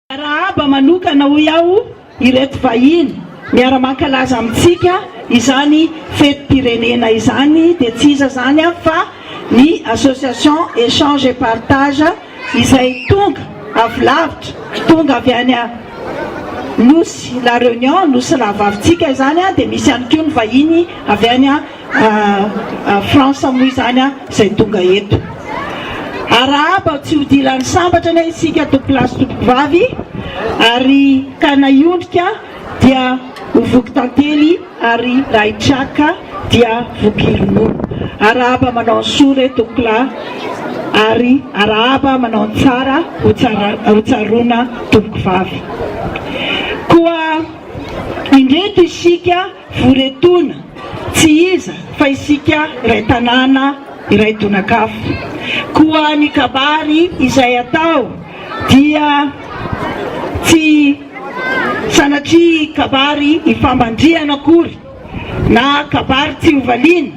Miarahaba manokana hoy aho ireto vahiny miara mankalaza amintsika izany fetim-pirenena izany dia tsy iza izany aho fa ny association Echange et Partage izay tonga avy lavitra, tonga avy any Nosy La Reunion, Nosy Rahavavitsika izany dia misy ihany koa ny vahiny avy any Fa France moa izany a zay tonga eto Arahaba tsy hodilan'ny sambatra anie isika tompolahy sy tompovavy Ary ka na hiondrika dia ho voky tantely Ary raha hitraka dia voky ronono Arahaba manao ny soa re tompokolahy Ary arahaba manao ny tsara ho tsaroana tompokovavy Koa indreto isika Voretona, tsy iza fa isika iray tanàna, iray tonakafo. Koa ny kabary izay atao dia tsy sanatria kabary ifamandrihana akory na kabary tsy hovaliana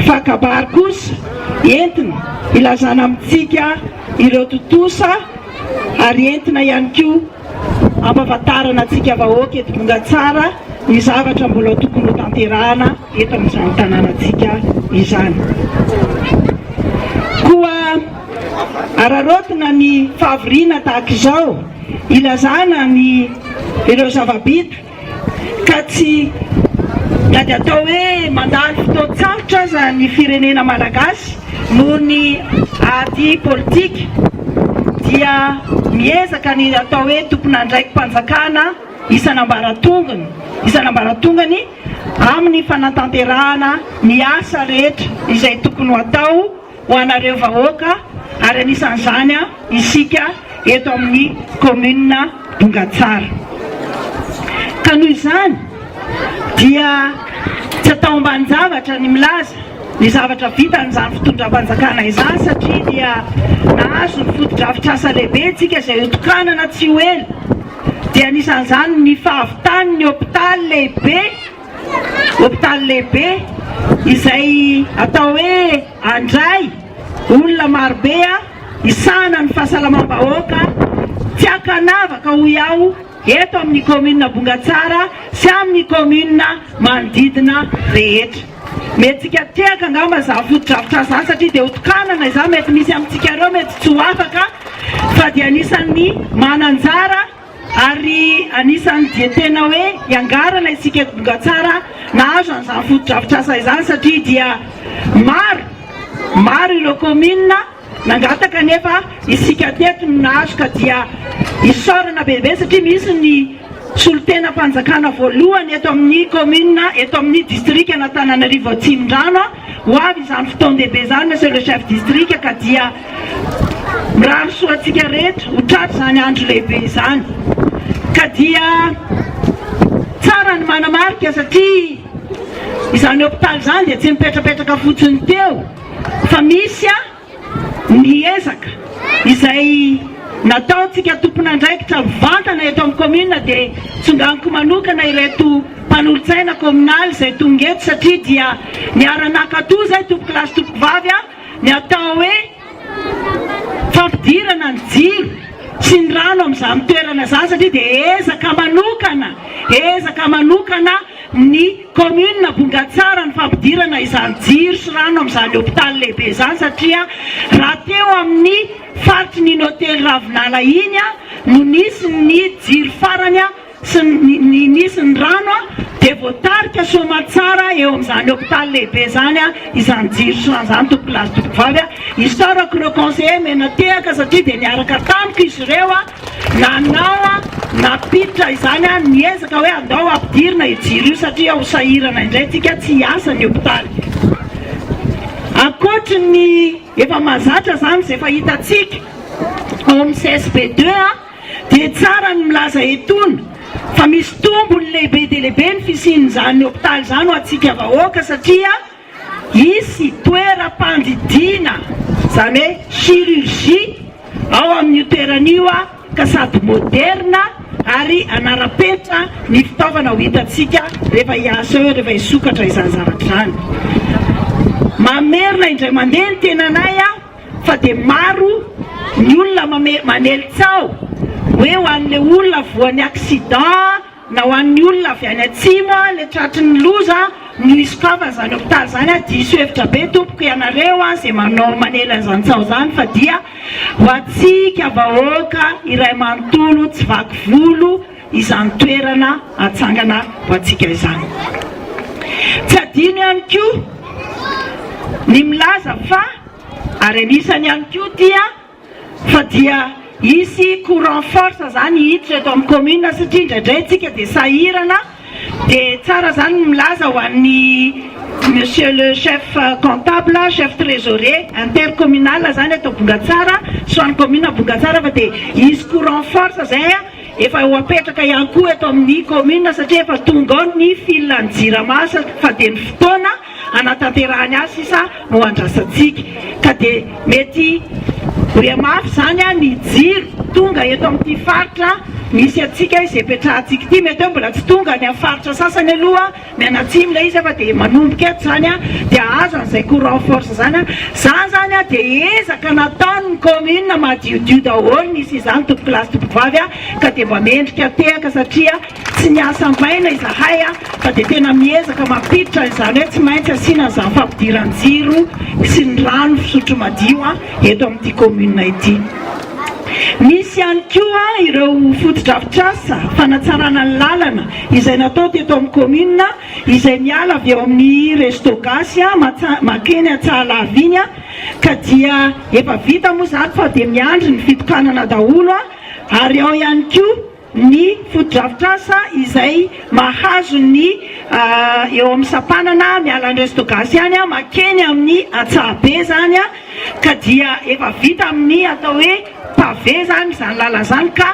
fa kabary kosa entina ilazana amintsika ireo tontosa ary entina ihany koa Ampahafantarana antsika vahoaka eto Bongatsara ny zavatra mbola tokony hotanterahana eto amin'izany tanànantsika izany. Koa araraotina ny fahavoriana tahaka izao, ilazana ny ireo zava-bita, ka tsy na dia atao hoe mandalo fotoan-tsarotra aza ny firenena malagasy noho ny ady politika dia miezaka ny atao hoe tompon'andraiki-panjakana isan'ambaratongony isan'ambaratongany amin'ny fanatanterahana ny asa rehetra izay tokony ho atao ho anareo vahoaka ary anisan'izany isika eto amin'ny kaominina Bongatsara. Ka noho izany dia tsy ataombanin-javatra ny milaza ny zavatra vitan'izany fitondram-panjakana izany satria dia nahazo ny fotodrafitrasa lehibe isika izay hotokanana tsy ho ela dia anisan'izany ny fahavitan'ny hopitaly lehibe Hopitaly lehibe izay atao hoe Andray, olona marobe hisahana ny fahasalamam-bahoaka tsy ankanavaka hoy aho eto amin'ny kaominina Bongatsara sy amin'ny kaominina manodidina rehetra. Mety tsikiatehaka angamba izaho fotodrafitrasa izany satria dia hotokanana izany mety misy amintsika ireo mety tsy ho afaka fa dia anisan'ny mananjara Ary anisan'ny dia tena hoe iangarana isika eto Bongatsara nahazo an'izany fotodrafitrasa izany satria dia maro, maro ireo kaominina nangataka nefa isika teto no nahazo ka dia isaorana bebe satria misy ny solontenam-panjakana voalohany eto amin'ny kaominina, eto amin'ny distrikan'Antananarivo Atsimondrano. Ho avy izany fotoan-dehibe izany Monsieur le Chef District ka dia mirary soa antsika rehetra ho tratry izany andro lehibe izany. Ka dia tsara ny manamarika satria izany hôpital izany dia tsy mipetrapetraka fotsiny teo fa misy ny ezaka izay nataontsika tompon'andraikitra mivantana eto amin'ny kaominina dia tsonganiko manokana ireto mpanolotsaina kaominaly izay tonga eto satria dia niara-nakato izay tompokolahy sy tompokovavy a ny atao hoe fampidirana ny jiro sy ny rano amin'izany toerana izany satria dia ezaka manokana ezaka manokana ny Kaominina Vongatsara ny fampidirana izany jiro sy rano amin'izany hopitaly lehibe izany satria raha teo amin'ny faritry ny Hotely Ravinala iny no nisy ny jiro farany sy ny nisy ny rano dia voatarika Soamatsara eo amin'izany hopitaly lehibe izany izany jiro sy rano izany Tompokolahy sy Tompokovavy isaorako ireo conseillers mena tehaka satria dia niaraka tamiko izy ireo Nanao nampiditra izany aho niezaka hoe andao ampidirina io jiro io satria ho sahirana indray tsika tsy hiasa ny hopitaly. Ankoatry ny efa mahazatra izany izay efa hitantsika ao amin'ny CSP deux dia tsara ny milaza etona fa misy tombony lehibe dia lehibe ny fisian'izany hopitaly izany ho antsika vahoaka satria Hisy toeram-pandidiana, izany hoe chirurgie, ao amin'io toerana io ka sady moderna ary hanara-penitra ny fitaovana ho hitantsika rehefa hiasa eo, rehefa hisokatra izany zavatra izany. Mamerina indray mandeha ny tenanay fa dia maro ny olona manely tsaho hoe ho an'ilay olona voan'ny accident Na ho an'ny olona avy any atsimo a le tratry ny loza no hisokafany zany hopitaly zany a diso hevitra be tompoko ianareo a ze manao manela zany tsaho zany fa dia ho atsika vahoaka iray manontolo tsy vaky volo izany toerana atsangana ho atsika izany tsy adino ihany koa ny milaza fa ary anisany ihany koa dia Fa dia hisy courant force zany hiditra eto amin'ny commune satria indraidray isika dia sahirana dia tsara zany ny milaza ho an'ny monsieur le chef comptable, chef trésorier intercommunal zany eto Bongatsara sy ho an'ny commune Bongatsara fa dia hisy courant force zay efa ho apetraka ihany koa eto amin'ny commune satria efa tonga ao ny fil an'ny jirama fa dia ny fotoana hanatanterahany azy sisa no andrasantsika ka dia mety ho re mafy izany a ny jiro tonga eto amin'ity faritra misy antsika izay petrahantsika ity mety hoe mbola tsy tonga any amin'ny faritra sasany aloha ny any atsimo ilay izy fa dia manomboka eto izany a dia aza an'izay courant force izany a izany izany a dia ezaka nataon'ny commune madiodio daholo nisy izany tompokolahy sy tompokovavy a ka dia mba mendrika tehaka satria Tsy miasa maina izahay fa dia tena miezaka mampiditra an'izany hoe tsy maintsy asiana an'izany fampidiran-jiro sy ny rano fisotro madio eto amin'ity kaominina ity. Misy ihany koa ireo fotodrafitrasa fanatsarana ny lalana izay natao teto amin'ny kaominina izay miala avy eo amin'ny Resto Gasy makeny Antsahalavy iny ka dia efa vita moa izany fa dia miandry ny fitokanana daholo ary ao ihany koa ny fotodrafitrasa izay mahazo ny eo amin'ny sampanana miala an'i Restogas ihany makeny amin'ny Antsahabe izany ka dia efa vita amin'ny atao hoe pavé izany izany lalana izany ka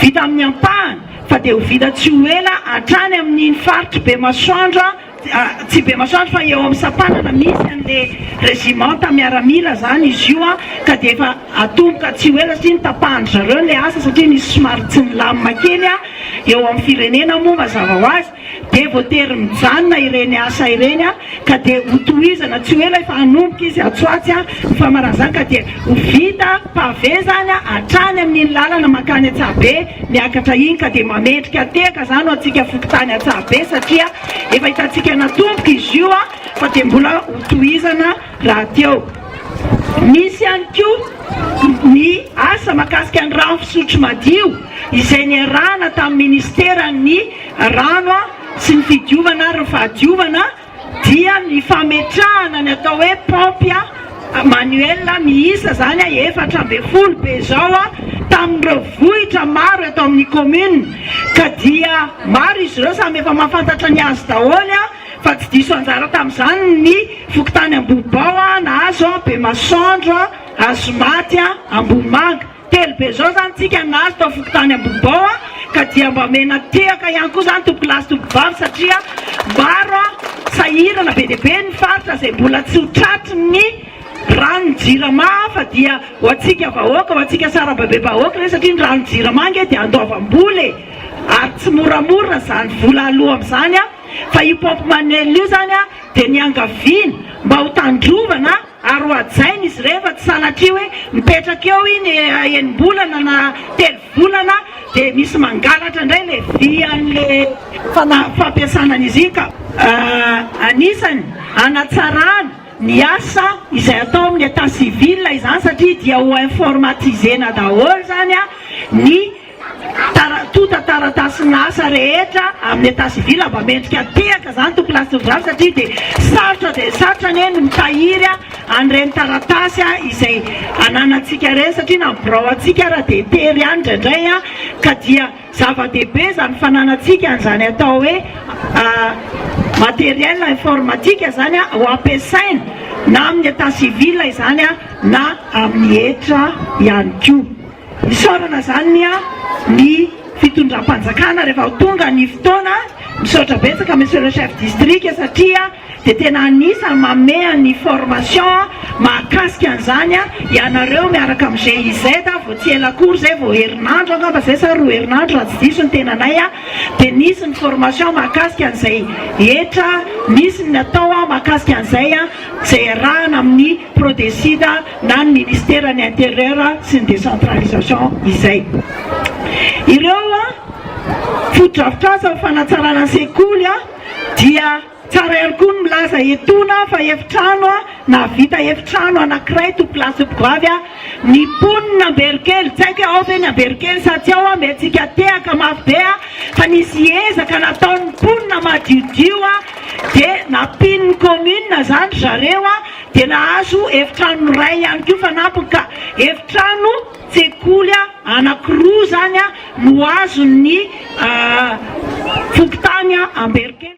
vita amin'ny ampahany fa dia ho vita tsy ho ela hatrany amin'iny faritr'i Bemasoandro Tsy be masoandro fa eo amin'ny sampanana misy an'le regimanta miaramila zany izy io ka dia efa atomboka tsy ho ela satria notapahan-dry zareo le asa satria nisy somary tsy nilamina kely eo amin'ny firenena moa mazava ho azy dia voatery mijanona ireny asa ireny ka dia hotohizana tsy ho ela efa hanomboka izy atsy ho atsy ny famaran'izany ka dia Ho vita pavé zany hatrany amin'iny lalana mankany Antsahabe miakatra iny ka dia mamendrika tehaka zany ho antsika fokontany Antsahabe satria efa hitantsika natomboka izy io fa dia mbola ho tohizana rahateo. Misy ihany koa ny asa makasika ny rano fisotro madio izay niarahana tamin'ny ministeran'ny rano sy ny fidiovana ary ny fahadiovana, dia ny fametrahana ny atao hoe paompy manuel miisa izany efatra ambin'ny folo be izao tamin'ireo vohitra maro eto amin'ny commune ka dia maro izy ireo samy efa mahafantatra ny azy daholo fa tsy diso anjara tamin'izany ny fokontany Ambohibao, Nahazo, Bemasoandro, Hazomaty, Ambohimanga. Telo be zao zany tsika nahazo tao fokontany Ambohibao a, ka dia mba omena tehaka ihany koa zany tompolahy sy tompovavy satria maro a sahirana be dia be ny faritra izay mbola tsy ho tratry ny rano jirama fa dia ho antsika vahoaka ho antsika sarababe bahoaka re satria ny rano jirama ange dia andoavam-bola e ary tsy moramora zany vola aloa amin'izany a fa io pompe manuel io zany a dia niangaviana mba ho tandrovana ary hohajaina izy ireny fa tsy sanatria hoe mipetraka eo iny enim-bolana na telo volana dia misy mangalatra indray ilay vy an'ilay fanahy fampiasana an'izy iny ka anisany hanatsarana ny asa izay atao amin'ny état civil izany satria dia ho informatiser-na daholo izany ny Tarantotan taratasy ny asa rehetra amin'ny etat civil mba mendrika tehaka izany toko lasindrano satria dia sarotra dia sarotra anie ny mitahiry an'ireny taratasy izay ananantsika ireny satria na ny birao antsika ary dia tery ihany indraindray ka dia zava-dehibe izany fananantsika an'izany atao hoe materiel informatika izany ho ampiasaina na amin'ny etat civil izany na amin'ny hetra ihany koa. Isaorana zany ny an ny fitondram-panjakana rehefa ho tonga ny fotoana, misaotra betsaka Monsieur le Chef District satria dia tena anisany manome an ny formation an mahakasika an izany an ianareo miaraka amin'ny GIZ an vao tsy ela akory izay vao herinandro angamba izay sa roa herinandro raha tsy diso ny tenanay an dia nisy ny formation mahakasika an izay hetra nisy ny natao an mahakasika an izay an izay arahana amin'ny Prodesida na ny Ministeran'ny Intérieur sy ny Décentralisation izay. Ireo fotodrafitrasa ho fanatsarana ny sekoly dia tsara ihany koa ny milaza etoana fa efitrano nahavita efitrano anankiray to place de goavy ny mponin' Amberokely. Tsy haiko hoe ao ve ny Amberokely sa tsy ao, mety tsy hika-tehaka mafy be fa nisy ezaka nataon'ny mponina madiodio dia nampian'ny commune izany ry zareo. dia nahazo efitrano iray ihany koa fanampiny ka efitrano tsekoly anankiroa izany no azon'ny fokontany Amberikely.